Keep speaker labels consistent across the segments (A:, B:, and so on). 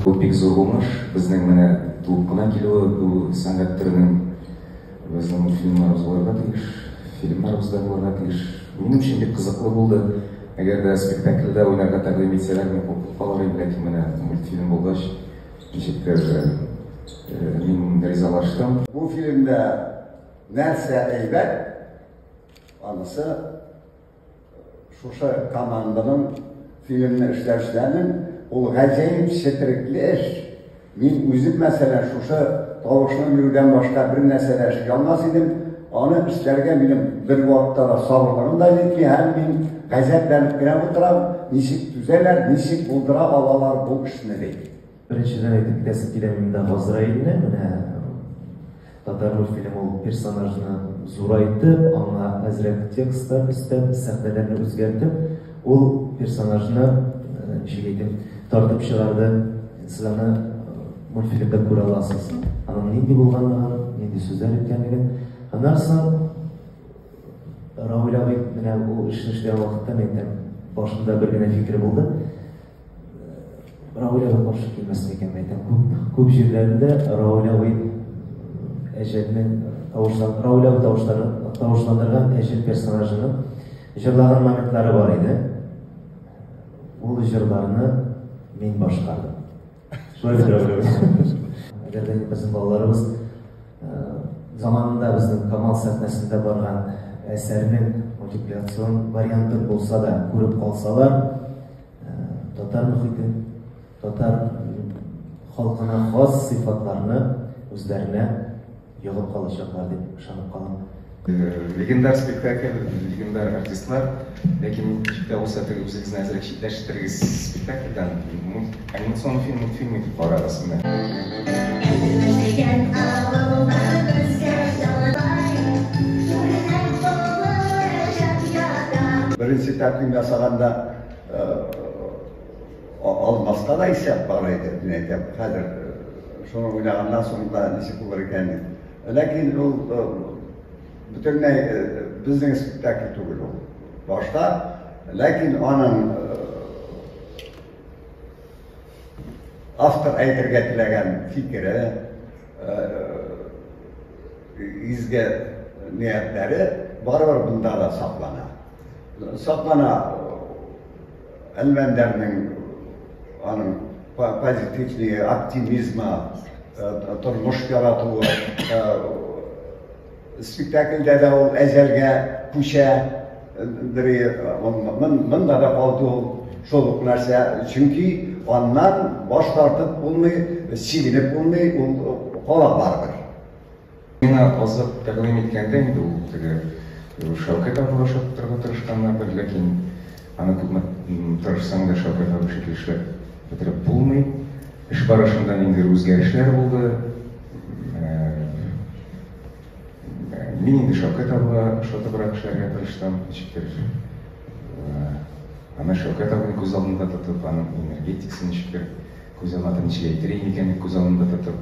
A: Бу бик зур уңыш. Безнең менә туып кына килүе бу сәнгать төренең безнең мультфильмнарыбыз булырга тиеш, фильмнарыбыз да булырга тиеш. Минем өчен бик кызыклы булды. Әгәр дә спектакльдә уйнарга тәкъдим итсәләр, мин куркып калыр идем, ләкин менә мультфильм булгач, ничектер мин ризалаштым. Бу фильмда Нәрсә әйбәт, анысы шушы команданың фильмны эшләүчеләрнең ул гаҗәеп четерекле эш. Мин үзем, мәсәлән, шушы тавышны белүдән башка бер нәрсә дә эшли алмас идем. Аны эшләргә минем бер вакытта да сабырлыгым да җитми, һәм мин гаҗәпләнеп кенә утырам, ничек түзәләр, ничек булдыра алалар бу эшне ди. Беренчедән әйтеп китәсем килә монда Газраилне, менә татар мультфильм ул персонажны зурайтып, аңа әзрәк текстлар өстәп, сәхнәләрне үзгәртеп, ул персонажны ничек әйтим, тартып чыгарды. Сез аны мультфильмда күрә аласыз. Аның нинди булганлыгын, нинди сүзләр әйткәнлеген. Аннан соң Равил абый менә ул эшне эшләгән вакытта, мин әйтәм, башында бер генә фикере булды. Раулева каршы килмәсен икән, мәйтәм. Күп, күп җирләрендә Раулева әҗәлнең тавышлан, Раулева тавышлары, тавышландырган әҗәл персонажының җырлаган моментлары бар иде. Ул җырларны мин башкардым. Шулай дип Раулева. Әгәр дә безнең балаларыбыз заманында безнең Камал сәхнәсендә барган әсәрнең мультипликацион вариантын булса да күреп калсалар, Татар мөхите, татар халкына хас сыйфатларны үзләренә ягып калачаклар дип ышанып калам. Легендар спектакль, легендар артистлар, ләкин ничек тә булса теге үзегезне әзрәк читләштерегез спектакльдән, анимацион фильм, мультфильм итеп карагыз менә. Беренче тәкъдим ясаганда Алмаска да исәп бар иде, мин әйтәм, хәзер шуны уйлаганнан соң да ничек булыр икән. Ләкин ул бөтенләй безнең спектакль түгел ул. Башта, ләкин аның автор әйтергә теләгән фикере, изге ниятләре барыбер бында да саклана. саклана әлмәндәрнең аның позитивный оптимизма тормыш яратуы спектакльдә дә ул әзәлгә күчә мында да калды ул шул ук нәрсә чөнки аннан баш тартып булмый сигенеп булмый ул кала барыбер Миңа азык тәкъдим иткәндә инде ул теге Шәүкәт абыйга ошаттырырга тырышканнар бер, ләкин аны күпме тырышсаң да Шәүкәт абый шикелле эшләп бетереп булмый. Эш барышында ниндидер үзгәрешләр булды. Мин инде Шәүкәт абыга ошатыбрак эшләргә тырыштым, ничектер аны Шәүкәт абыйны күз алдында тотып, аның энергетикасын ничектер күз алдына, ничек әйтер идем икән дип күз алдында тотып,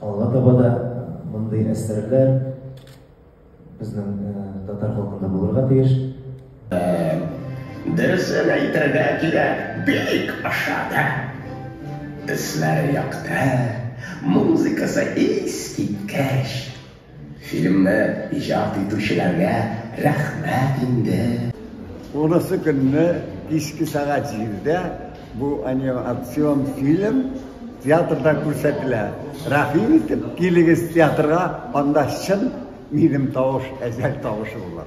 A: Алга таба да мондый әсәрләр безнең татар халкында булырга тиеш. Дөресен әйтергә кирәк, бик ошады. Төсләре якты, музыкасы искиткеч. Фильмны иҗат итүчеләргә рәхмәт инде. Урысы көнне кичке сәгать җирдә бу анимацион фильм театрда күрсәтелә. Рәхим итеп, килегез театрга, анда чын минем тавыш, әҗәл тавышы була.